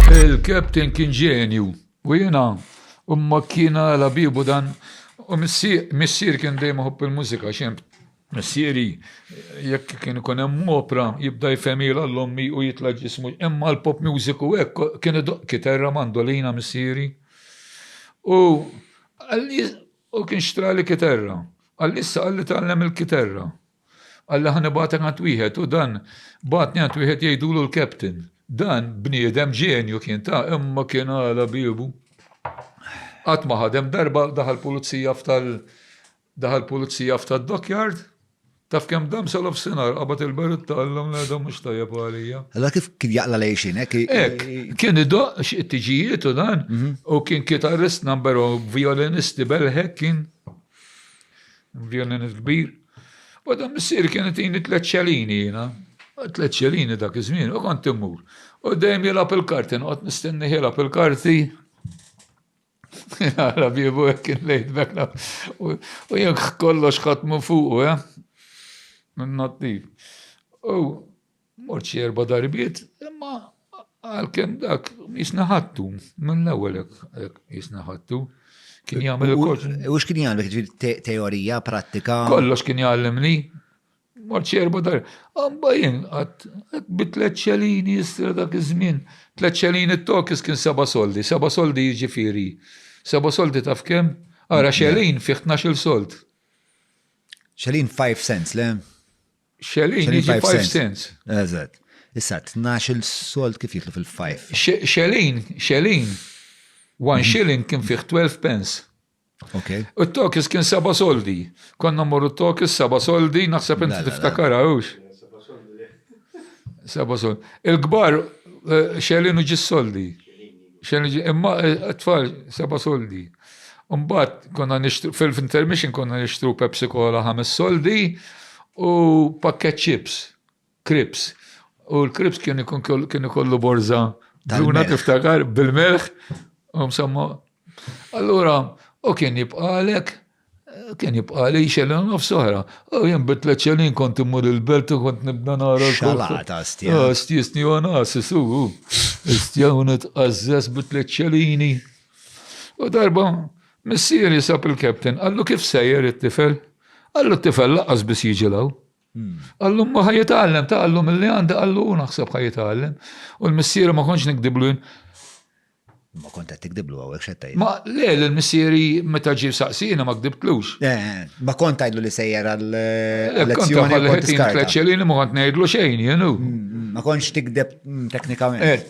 Il-Captain kien ġenju u jiena imma kien għala biebu dan u missier kien dejjem iħobb il-mużika xi missieri jekk kien ikun hemm opra jibda jfehmilha l ommi u jitla' ġismu imma l-pop music u hekk kien idoqq kiterra, mandolina missieri u u kien xtrali kiterra. Qalli issa qalli tgħallem il-kiterra. Qalli ħa nibgħatek għand wieħed u dan bagħatni għand wieħed jgħidulu l-Captain. Dan bniedem ġenju kien ta' imma kien għala biebu. Qatt ma ħadem darba daħal pulizija f'tal daħal pulizija f'tal dockyard Taf kem dam sal sinar, qabat il-berut tal-lum li għadhom mux tajab għalija. Allora kif kien jaqla lejxin, ek? Ek, kien id it-tiġijiet u dan, mhm. u kien kitarrist number u violinisti belħek kien. Violin il-kbir. U dan missier kien itini tliet xelini jiena. Tliet xelini dak iż-żmien u kont immur. U dejjem jilgħab il-karti, noqgħod nistenni jilgħab il-karti. Għala biebu hekk kien lejt bekna. U jekk kollox ħadd minn fuq, eh? Minn nattiv. U Mort xi erba' darbiet, imma għalkemm dak jisna ħattu, minn l-ewwel jisna ħattu. Kien jagħmel ukoll. U x'kien jagħmel teorija, prattika? Kollox kien jgħallimni. Mort xi erba' darbiet. Amba jien qatt bi tliet xelini jistra dak iż-żmien. Tliet xelini t-tokis kien seba' soldi, seba' soldi jiġifieri. Seba' soldi taf kemm? Ara xelin fih tnax-il sold. Xelin 5 cents, le? Xelin jiġi 5 cents. Eżatt. Issa, 12 sold kif jitlu fil-5? Xelin, xelin. One mhm. shilling kien fih 12 pence. Okay. U t-tokis kien seba soldi. Konna morru t-tokis seba soldi, naħseb inti tiftakar għawx. Seba soldi. Il-gbar eh, xelin u ġis soldi. Xejn iġi, imma t-tfal eh, seba' soldi. Mbagħad konna nixtru fil-intermission konna nixtru Pepsi Cola ħames soldi u pakket chips, krips. U l-krips kien ikun kien ikollu borza duna tiftakar bil-melħ u msamma. Allura, u kien jibqalek Kien jibqa' li xelin nofs oħra. U jien bitlet xelin kont immur il-belt u kont nibda nara. Xalata, stja. Ah, stjisni u nasi su. Stja u nitqazzes bitlet xelini. U darba, missieri sab il-captain, għallu kif sejjer it-tifel? Għallu t-tifel laqas biss jiġilaw. Qallu ma ħajitgħallem, ta' qallu milli għandi qallu u naħseb ħajitgħallem. U l-missieri ma kontx nikdiblu jien. Ma kont qed tikdiblu hawnhekk x'qed Ma le l-missieri meta ġie saqsina ma kdibtlux. Eh, eh, ma kont tgħidlu li sejjer għal eh, lezzjoni u kont tiskarta. Ma kont ngħidlu xejn jenu. Mm, mm, ma kontx tikdeb mm, teknikament.